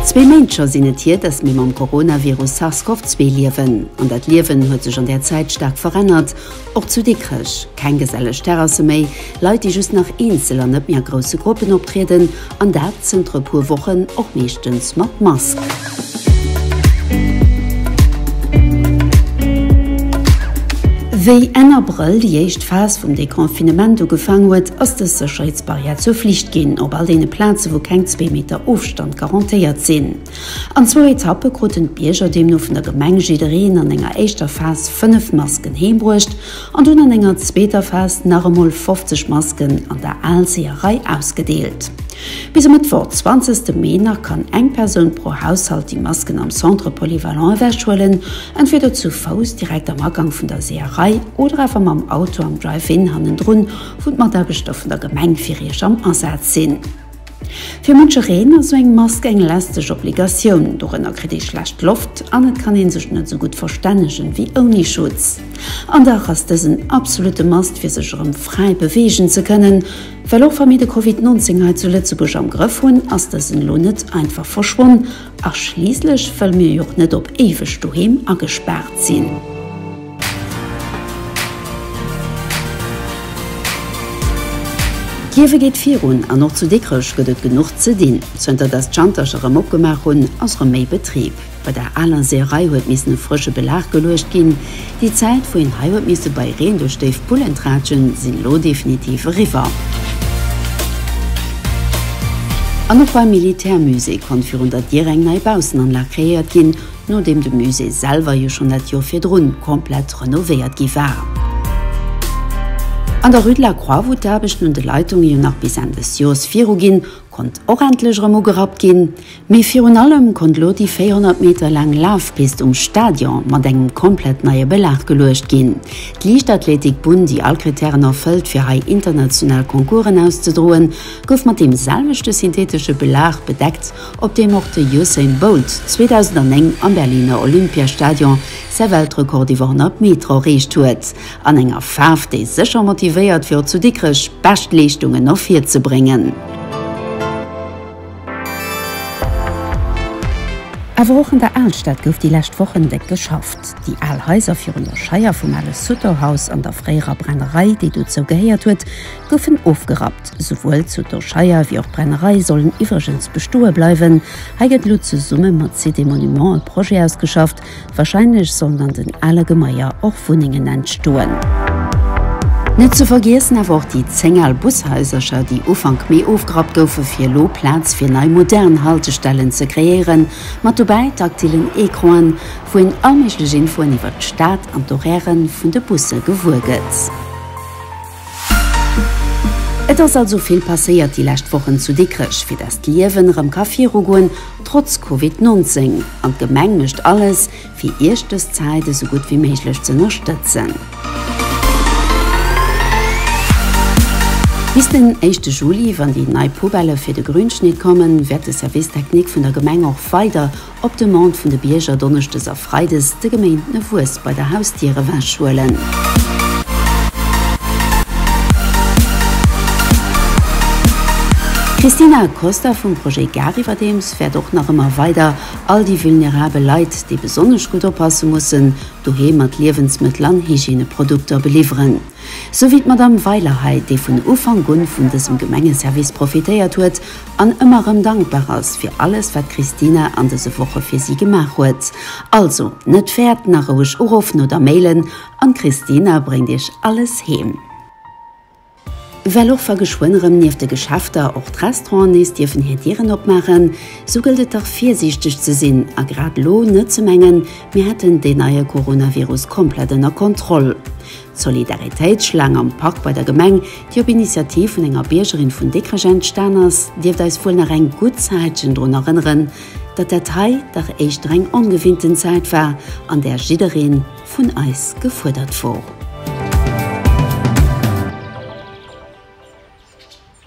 Zwee Méint scho sinn et hier, dass mir mam Coronavirus SARS-CoV-2 liewen. An dat Liewen huet sech an där Zäit staark verännert. Och zu Dikrech, keng geselleg Terrasse méi, Leit, déi just nach eenzel an net méi a grousse Gruppen optrieden, An dat zënter e puer Wochen, och meeschtens mat Mask. Wéi Enn Abrëll déi éischt Phas vum Deconfinement ugefaang huet, ass dës Sécherheetsbarrière zur Flicht ginn op all deene Plaze wou keng zwee Meter Ofstand garantéiert sinn. An zwou Etappe kruten d'Bierger deemno vun der Gemeng jiddereen an enger éischter Phas fënnef Masken heembruecht An dunn an enger zweeter Phas nach emol 50 Masken an der Aalseeërei ausgedeelt. Bis e Mëttwoch 20 de Mee nach kann eng Persoun pro Haushalt déi Masken am Centre Polyvalent ewechhuelen, entweder zu Fouss direkt am Agang vun der Seeërei oder awer mam Auto am Drive-In hannendrun, wou d'Mataarbechter vun der Gemeng fir Iech am Asaz sinn. Fir munche Reen ass sou eng Mask eng lästeg Obligatioun. Dorënner kritt ee schlecht Loft an et kann een sech net sou gutt verstännegen wéi ouni Schutz. An dach ass dës en absolutte Must fir sech erëm fräi beweegen ze kënnen. Well och wa mir de Covid 19 hei zu Lëtzebuerg am Grëff hunn, ass dësen elo net einfach verschwonn a schliisslech wëlle mir jo och net op éiweg doheem agespaart sinn. D'Liewe geet virun an och zu Dikrech gëtt et genuch ze dinn. Zënter datt d'Schantercher erëm opgemaach hunn, ass erëm méi Betrib. Bei der aler Seeërei huet missen e frësche Belag geluecht ginn. Déi Zäit, wou een hei huet misse bei Reen duerch déif Pullen tratschen, sinn elo definitiv eriwwer. An och beim Militärmusée konnt virun der Dier eng nei Baussennanlag kreéiert ginn. Nodeem de Musée selwer jo schonn dat Joer virdrun komplett renovéiert gi war. An der Rue de la Croix, wou d'Aarbechten un de Leitunge jo nach bis Enn des Joers viru ginn, konnt och endlech erëm ugerappt ginn. Mee virun allem konnt elo déi 400 Meter laang Lafpist um Stadion mat engem komplett neie Belag geluecht ginn. D'Liichtathletik-Bunn, déi all Krittären erfëllt, fir hei international Concoursen auszedroen, gouf mat deem selwechte syntheetesche Belag bedeckt, op deem och de Usain Bolt 2009 am Berliner Olympiastadion säi Weltrekord iwwer 100 Meter erreecht huet, an enger Faarf, déi sécher motivéiert, fir och zu Dikrech bescht Leeschtungen ervirzebréngen. Awer och an der Alstad gouf déi lescht Wochen déck geschafft. Déi al Haiser virun der Scheier vum ale Sutter-Haus an der fréierer Brennerei, déi dozou gehéiert huet, goufen ofgerappt. Souwuel zu Dorscheier wéi och Brennerei sollen iwwregens bestoe bleiwen. Hei gëtt elo zesumme mat CD Monuments e Projet ausgeschafft. Warscheinlech sollen an den ale Gemaier och Wunnengen entstoen. Net ze vergiessen awer och déi 10 al Bushaisercher, déi Ufank Mee ofgerappt goufen, fir elo Plaz fir nei modern Haltestellen ze kreéieren. Mat dobäi taktilen Ecranen, wou een all méiglech Infoen iwwert d'Stad an d'Horairen vun de Busse gewuer gëtt. Et ass also vill passéiert déi lescht Wochen zu Dikrech, fir dass d'Liewen erëm ka virugoen, trotz Covid 19. An d'Gemeng mécht alles, fir Iech dës Zäit esou gutt wéi méiglech ze ënnerstëtzen. Bis den éischte Juli, wann déi nei Poubelle fir de Grünschnitt kommen, wäert de Service technique vun der Gemeng och weider op Demande vun de Bierger donneschdes a freides de geméinten e Wues bei der Hausdier ewech huelen. D'Cristina Costa vum Projet Gare iwwerdeems fäert och nach ëmmer weider all déi vulnerabel Leit, déi besonnesch gutt oppasse mussen, doheem mat Liewensmëttel an Hygieneprodukter beliwweren. Sou wéi d'Madamm Weiler hei, déi vun Ufank un vun dësem Gemengeservice profitéiert huet an ëmmer rëm dankbar ass fir alles wat d'Christina an dëse Woche fir si gemaach huet. Also net fäert nach roueg urofn oder mailen an d'Christina bréngt iech alles heem. Well och wa geschwënn erëm nieft de Geschäfter och d'Restauranten nees dierfen hir Dieren opmaachen, sou gëllt et dach virsiichteg ze sinn a grad elo net ze mengen, mir hätten deen neie Coronavirus komplett ënner Kontroll. D'Solidaritéitsschlaang am Park bei der Gemeng, déi op Initiativ vun enger Biergerin vun Dikrech entstan ass, dierft eis wuel nach eng gutt Zäitchen drun erënneren, datt dat hei dach éischter eng ongewinnten Zäit war, an där jidderee vun eis gefuerdert wor.